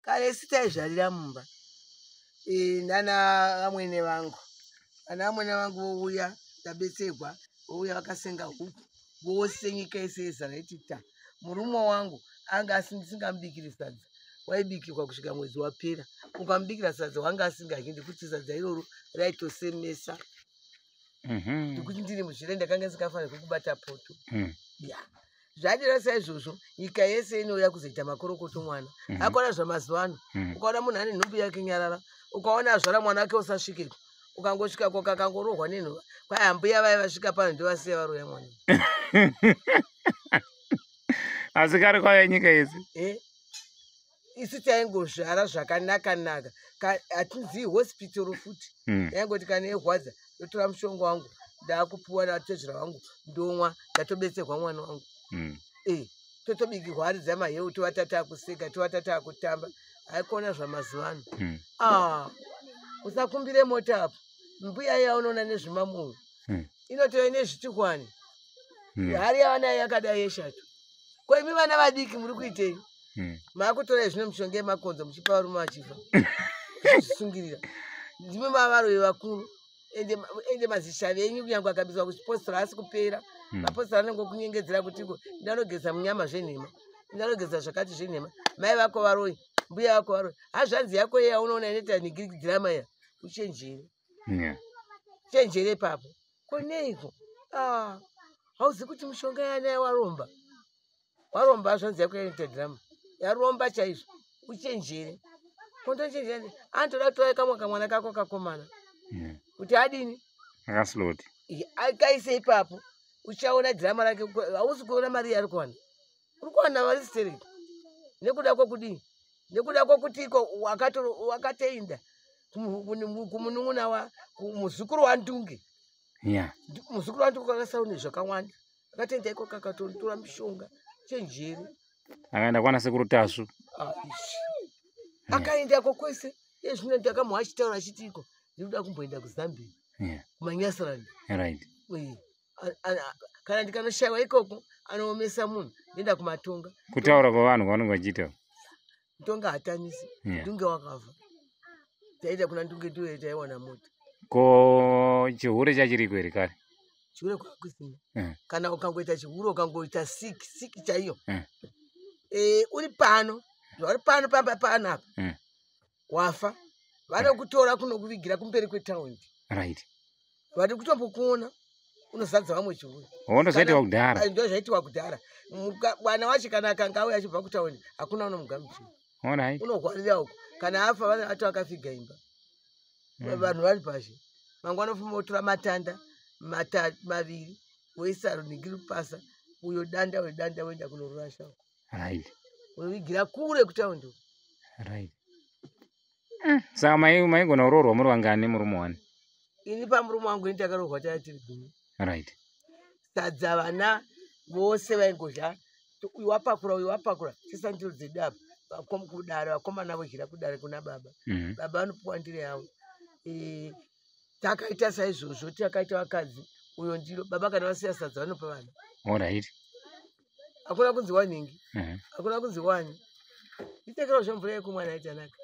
kare si taizvarira mumba e, nana vamwene vangu vana vamwene vangu vouya ndabetsegwa vouya vakasenga huku vose nyika yese yezara iti ta murume wangu anga asindisingamubikiri sadza waibikirwa kusvika mwedzi wapera ukamubikira sadza wanga asingadyi ndikuti sadza iroro raitosemesa Mhm. nekuti ndiri muzvire ndakanga ndisikafanira kukubata poto Mm. ya zvadira saizvozvo nyika yese inouya kuzoita makorokoto mwana Mhm. akona zvamazuva ano Mm. ukaona munhu ane nhumbu yake nyarara ukaona azvara mwana wake usasvikeko ukangosvika ko kakangorohwa nenhuva kwai ambuya vaye vasvika pano ndivasiya varoya mwana asi kari kwaya nyika yese e isu taingozvara zvakanaka naka hatizivi hospitoro futi hmm. yaingoti kana irwadza ndotora mushonga wangu ndaakupiwa natezvera wangu ndomwa ndatobetserwa mwana wangu hmm. eh, totobikirwa ari dzamaheu tovatata akuseka tovatata akutamba haikona zvamazuva ano hmm. ah, usakumbire mota apo mbuya yaunoona nezvimamoyo inotove nezvitikwani hari yavanayo yakadai yeshato ko imi vana vadiki muri kuitei hmm. maakutora zvino mishonga yemakonzo muchipa varume vachifa zvisungirira ndimi mavaroyi vakuru ende mazishavi enyu kunyangwe akabizwa kuchipostora asi kupera hmm. mapostora anenge okunyengedzera kutiko ndanogeza munyama zvenhema ndanogeza zvakati zvenhema mai vako varoyi mbuya vako varoyi hazvanzi yako yeya unoona inoita nigirikidzira maya uchenjeri yeah. chenjere papo kuneiko ah, hauzi kuti mushonga yanaye waromba waromba zvanzi yako yaita drama yaromba chaizvo uchenjere kondochenjere anotoda kutora kamwe kamwana kako kakomana yeah. kuti adini akasloti akaise ipapo uchaona drama rake hausi kuona mari yari kuwana uri kuwana mari stereki nekuda kwekudii nekuda kwekuti iko wakatoinda kumunun'una wa muzukuru wandunge muzukuru wandunge kwakasaune zvakawanda akatoinda iko kakatotora mishonga chenjeri akaenda kwana sekuru tasvu ah, akaendako kwese ezvino ndakamuha achitaura achiti iko ndikuda kumboenda kuzambia kumanyasirani kana ndikanoshaiwa ikoko anoomesa munhu ndoenda kumatonga kutaura kwevanhu kwavanenge vachiita mutonga hatanisi ndunge wakavha taita kuna ndunge ndiwe taiwana mota ko chihure chachiriko here kare chihure kwakusina eh. kana ukangoita chihure ukangoita sik sik chaiyo eh. eh, uri pano zvauri pano pamba pano apa wafa vanokutora kunokuvigira kumberi kwetaundi right vati kutombokuona unozadza vamwe chiuya wondozaitiwa kudhara ndo zvaitiwa kudhara mwana wacho kana akanga auya achibva kutaundi hakuna unomugamuchira orit unohwarira uko kana afa vana vato akafiga imba hmm. vanhu vari pazhe mangwa anofuma otora matanda maviri woisa runhingiri pasa uyo danda wedanda woenda kunorurasha uko right unovigira kure kutaundi right mm. saka maigona kuroorwa muri vangani murume wani ini pamurume wangu ini takaroorwa tava tiri gumi right sadza vana vose vaingodya uyu wapakura uyu wapakura sesandiro dzedu apa vakom kudare vakomana vodyira kudare kuna baba mm -hmm. baba vanopiwa ndire yavo e, takaita saizvozvo takaita vakadzi uyo ndiro baba kana vasiya sadza vanopa vana orit hakuna kunzi wanhingi mhm. hakuna kunzi wani itekero zvemvura yekumwa naye tanaka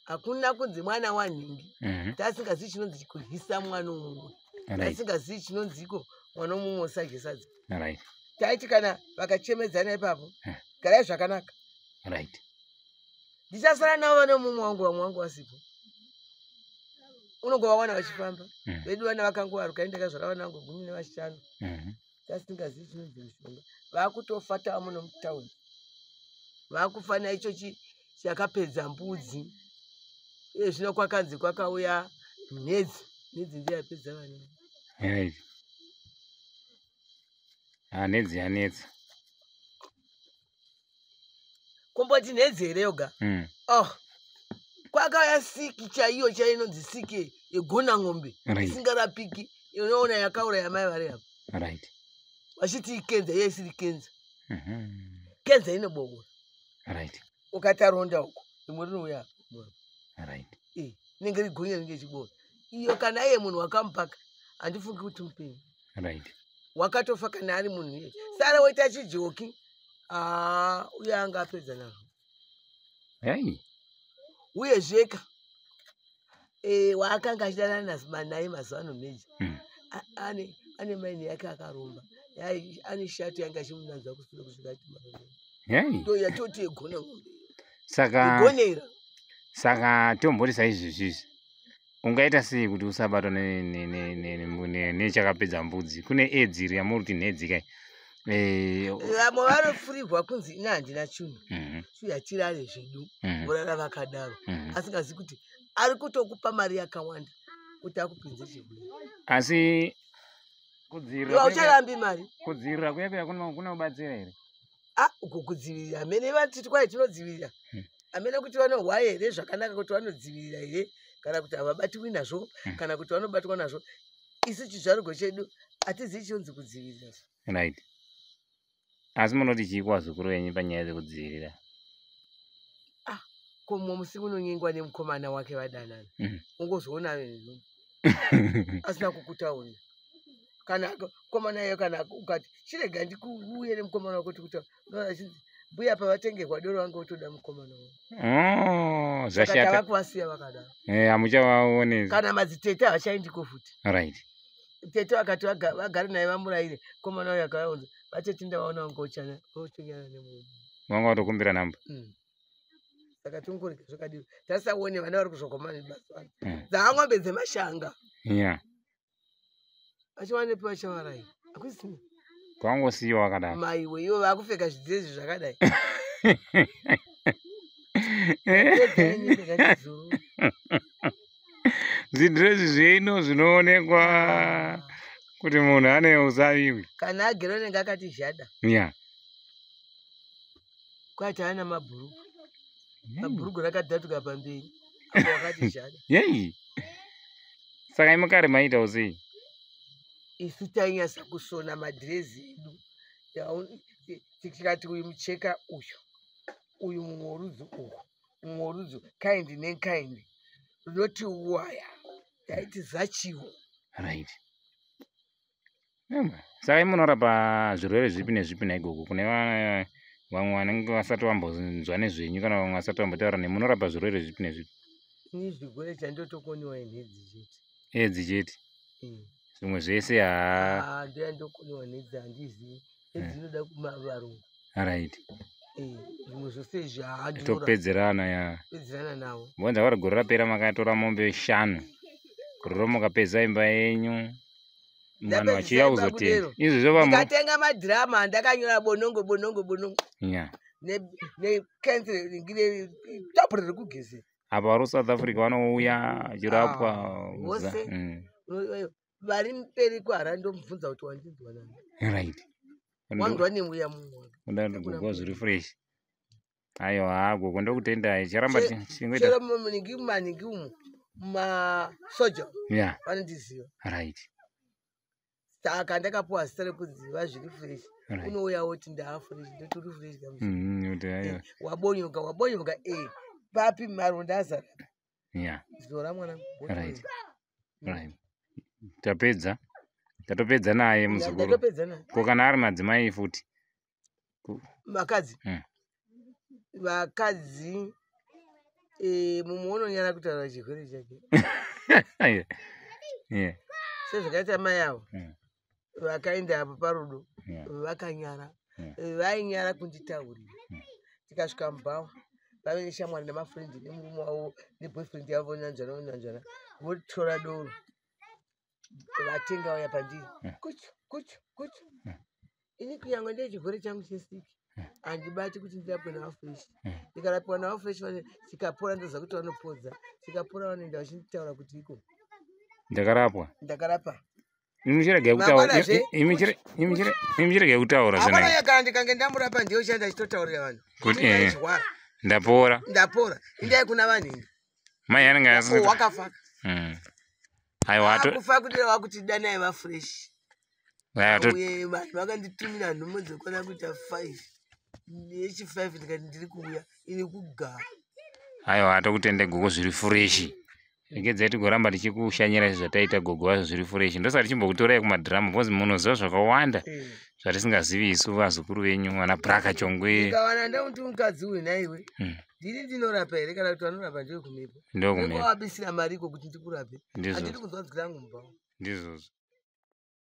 hakuna kunzi mwana wanhingi mhm. taasingazivi chinonzi kuhisa mwana umumwe taasingazivi chinonziko mwana umumwe usagesadza taiti kana vakachemedzana ipapo eh. garai zvakanaka ndichasara navo vane umumwe wangu vamwe wangu wasipo unongovawana vachifamba mhm. vedu vana vakangovaruka indakazvara vana vangu gumi nevashanu mhm. tasingazivi chinonzi mushonga vakutofa tamuno mutown vakufana icho chakapedza mbudzi iye zvino kwakanzi kwakauya nhedzi nhedzi ndiyo yapedza vana ah, nhedzi yanetsa komboti nhedzi here yoga mm. oh kwakaya siki chaiyo chainonzi siki yegona ng'ombe isingarapiki inoona yakaura yamai vari apo right vachiti ikenza iye isiri kenza mhm. kenza inoboora right ukati aronda uko rimwe rinouya right inenge rigonya rinenge chiboora iyo kana iye munhu wakamupaka handifungi kuti mupenyu right wakatofa kana ari munhu iye sara woita chijoki aa uye anga apedza nazvo hey. uye zveka e, eh, waakanga achidanana nazima naye mazuva ano meja mm. ane, ane maini yake akaromba ane shato yanga achimunanzva kusura kusvika atimaoya toti yegona ngombe saka igonera saka tomborisa izvezvizvi ungaita sei kuti usabatwa nechakapedza mbudzi kune edzi iri yamuri kuti nhedzi kai eh, vamwe vanofurirwa kunzi ini handina chinhu mhm. suyatirare zvedu mhm. vorara vakadaro mhm. asingazi kuti ari kutokupa mari yakawanda kuti akupinze chedu asi kudzivirira kudzivirira kuya kuya kunobatsira here ah, uko kudzivirira amene vatiti kwai tinodzivirira hmm. amene kuti vanohwa here zvakanaka kuti vanodzivirira here kana kuti havabatwi nazvo hmm. kana kuti vanobatwa nazvo isu chizvarugo chedu hatizivi chionzi kudzivirira right asi munoti chii kuvazukuru venyu panyaya dzekudzivirira ah komo musi unonyengwa nemukomana wake vadanana mm. ungozoona asina kukutaura kana mukomana iye kana ukati chirega ndikuuye nemukomana wako tikutaura unoona chinzi mbuya pavatengerwa doro vange votoda mukomana wavo oh, zvashatava kuvasiya vakadaro eh, hamuchavaone kana madzitete havachaindiko futi right tete vakati vagare naye vamuraire mukomana uyo akavaunza vatete ndavaona vange vochana vochonyana nemunhu vanga vatokumbira namba mm saka tingorega zvakadii tasisaone vana vari kuzvokomana mazuva ano mm. dzaangombe dzemashanga yeah vachiwanepiwa chavarai akusina kwangosiyiwa vakadaro maiwe ivo vakupfeka zvidzezi zvakadai zvidrezi zveino zvinoonekwa kuti munhu ane uzaviwi kana agere unenge akati zhada ya yeah. kwati ana mabhurugu mabhurugu rakadhatuka pamberi apo wakati zvada yei saka imukare maitawo sei isu tainyasa kusona madhirezi edu tikati uyu mucheka uyu uyu mumwe worudzi uhu mumwe worudzi kind nenkind runoti waya taiti zachiwo right saka imunorapa zvirwere zvipi nezvipi naigogo kune vamwe vanenge vasati vambonzwa nezvenyu kana vamwe vasati vambotaura ne munorapa zvirwere zvipi nezvipi ini zvirwere chandotokoniwa inhedzi chete edzi chete zvimwe zvese haa ndoya ndokoniwa nhedzi handizivi edzinoda eh. kuma varungu right eh, zvimwe zvose izvi haatopedzerana ya pedzerana navo mbonza vari gore rapera makatora mombe shanu gore romukapedza imba yenyu mwana vachiya kuzotenda izvi zvovatenga madhirama andakanyora bonongo bonongo bonongo ya nekensiringi netapu riri kugezera apa vari kusouth africa vanouya achirapwa ah, vose mm. vari mberi kwaharare ndomubvunza kuti wandinzwa nani right wanzwa nemweya mumweundagogo zviri fresh ayo haa gogo ndokutendai charamba chingoitachero maningi maningi umu masoja ya vanondiziva right saka ndakapuwa zita rekuziva zviri fresh unouya woti ndaafresh ndoti uri fresh mm, eh, wabonyoka wabonyoka e papi maronda azara yeah zora mwana right right tapedza tatopedza naye muzukuru ko kana ari madzimai futi vakadzi hmm. vakadzi eh, mumwe unonyara kutaura chirwere chake sezvakaita mai avo hmm. vakaenda apo parudo vakanyara vainyara kunditaurira tikasvika mubhawa vave neshamwari nemafrendi nemurume wavo neboyfriend yavo vonanzvana vonanzvana votora doro vatenga vaya pandiri kuchu kuchu kuchu ini kunyange ndine chirwere changu chesiki handibati kuti ndirapwe nawo fresh hmm. ndikarapiwa nawo fresh chikapora ndoza kuti vanopodza chikapora vanoenda vachinditaura kuti iko ndakarapwa ndakarapa imichirege kutaura zvinakana ndikange ndamurapa ndiyo chanda chitotaurira vanhu kuti eh, ndapora ndapora indai kuna vanhu ini mai anenge wakafa hmm. aiwa to- akufa kudira vakuti danai vafresh aiwa to- uye vanhu vakanditumira nhumo dzekwana kuita five yechi five ndikati ndiri kuuya ini kugara aiwa atokutende gogo zviri fureshi regedzai tigoramba tichikushanyira izvi zvataita gogo vacho zviri fureshi ndosati chimbokutorai kumadhiramu because munoziva zvakawanda Eh. zvatisingazivi isu vazukuru venyu vana braka chongwe ndikawana ndakuti mukadzi uyu naiwe Mm. ndini ndinorapa here kana kuti vanorapa ndiwe kumipo ndokumeabisira mari iko kuti ndikurape handidi kunzwa nzwi rangu mubhawa ndizvozvo